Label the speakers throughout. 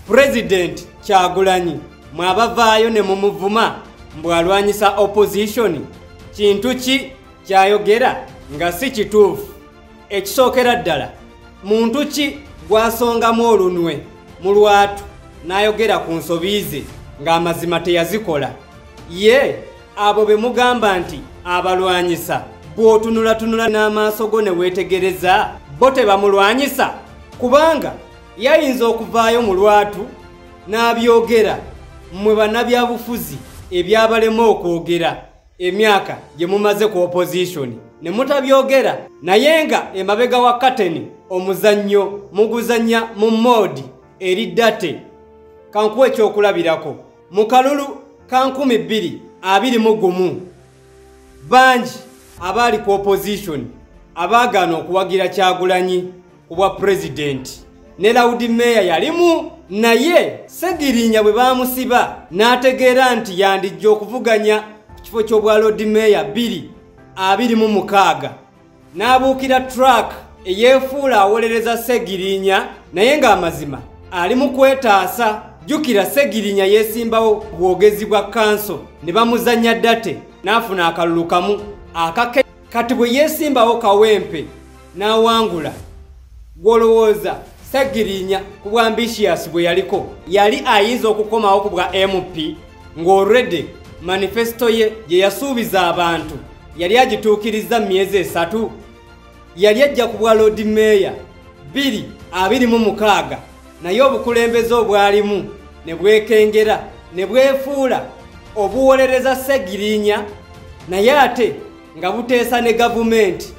Speaker 1: President Kyagulanyi mwabavaayo ne mumuvuma mbu alwanyisa opposition kintu ki kyayogera nga si kituufu ekisookera ddala muntu ki gwasongamu olunwe mu lwatu n'ayogera ku nsobi ze ng'amazima teyazikola ye abo be mugamba nti abalwanyisa bw'otunulatunula n'amaaso go ne weetegereza bo tebamulwanyisa kubanga yayinza okuvaayo mu lwatu n'abyogera mmwe bannabyabufuzi ebyabalema okwogera emyaka gye mumaze ku opozishoni ne mutabyogera naye nga emabega wa kateni omuzannyo muguzannya mu moodi eri date kankuwa ekyokulabirako mu kalulu ka nkumi bbiri abiri mu gumu bangi abaali ku opozishoni abaagaana okuwagira kyagulanyi ku bwa pulezidenti ne lawudi meeya yalimu naye segirinya bwe baamusiba n'ategeera nti yandijja okuvuganya ku kifo ky'obwa lodi meeya bbiri abiri mu mukaaga n'abuukira trak eyeefuula awolereza segirinya naye ng'amazima ali mu kwetaasa jjukira segirinya yeesimbawo bwogezi bwa kanso ne bamuzannya date n'afuna akalulu kamu akake kati bwe yeesimbawo kawempe n'awangula gw'olowooza sagirinya ku bwa ambitious bwe yaliko yali ayinza okukomawo ku bwa mp ng'olredi manifesito ye gye yasuubiza abantu yali agituukirizza mu myezi esatu yali ajja ku bwa loodi meeya 2 26 naye obukulembeze obwalimu ne bwekengera ne bwefuula obuwolereza ssegirinya naye ate nga buteesa ne gavumenti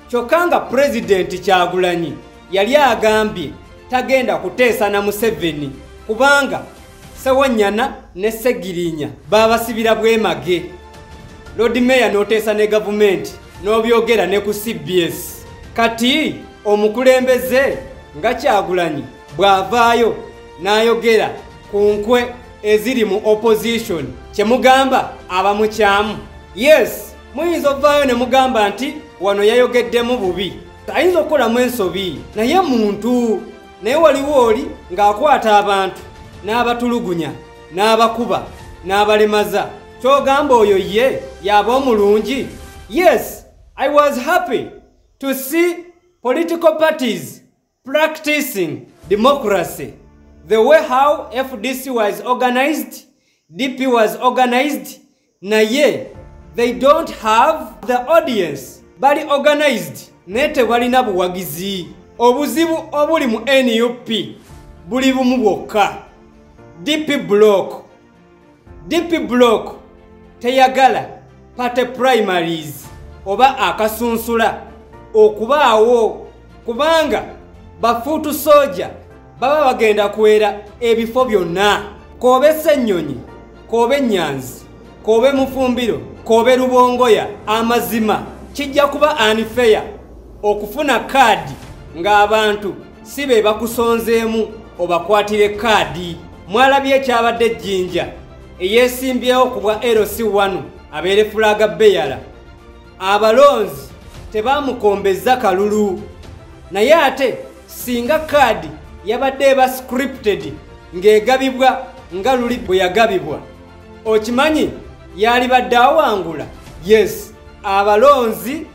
Speaker 1: kyokka nga pulezidenti kyagulanyi yali agambye tagenda kuteesa na museveni kubanga Sewanyana ne Segirinya baabasibira bwemage. Lord Mayor n'oteesa ne gavumenti n'obyogera ne ku CBS. Kati omukulembeze nga Kyagulanyi bw'avaayo n'ayogera ku nkwe eziri mu opposition kye mugamba abamukyamu. Yes, muyinza ovaayo ne mugamba nti wano yayogeddemu bubi. Ayinza okukolamu ensobi naye muntu. naye waliwo oli ng'akwata abantu n'abatulugunya n'abakuba n'abalemaza kyogamba oyo ye yaba omulungi yes i was happy to see political parties practicing democracy the way how fdc was organized dp was organized naye they don't have the audience bali organized naye tebalina buwagizi obuzibu obuli mu nup buli bumu bwokka dp block dp block teyagala party primaries oba akasunsula okubaawo kubanga bafuutu soja baba bagenda kuwera ebifo byonna koobe sennyonyi koobe nyanzi koobe mufumbiro koobe lubongoya amazima kijja kuba anifeya okufuna kaadi ng'abantu si be bakusonzeemu obakwatire kaadi mwalabye ekyabadde ejjinja eyeesimbyewo ku bwa lc1 abeere fulaaga beyala abalonzi tebaamukombezza kalulu naye ate singa kaadi yabadde eba scripted ng'egabibwa nga luli bwe yagabibwa okimanyi yaalibadde awangula yes abalonzi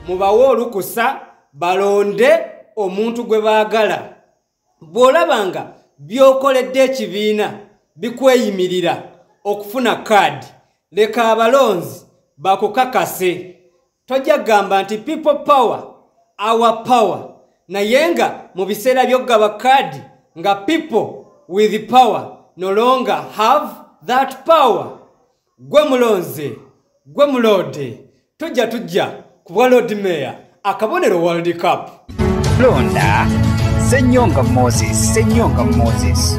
Speaker 1: mubawe olukusa balonde omuntu gwe baagala bw'olaba nga by'okoledde ekibiina bikweyimirira okufuna kaadi leka abalonzi bakukakase tojja kugamba nti people power our power naye nga mu biseera by'okugaba kaadi nga people with power no longer have that power gwe mulonze gwe muloode tujja tujja ku bwa lord mayor akabonero world cup londa
Speaker 2: senyonga moses senyonga moses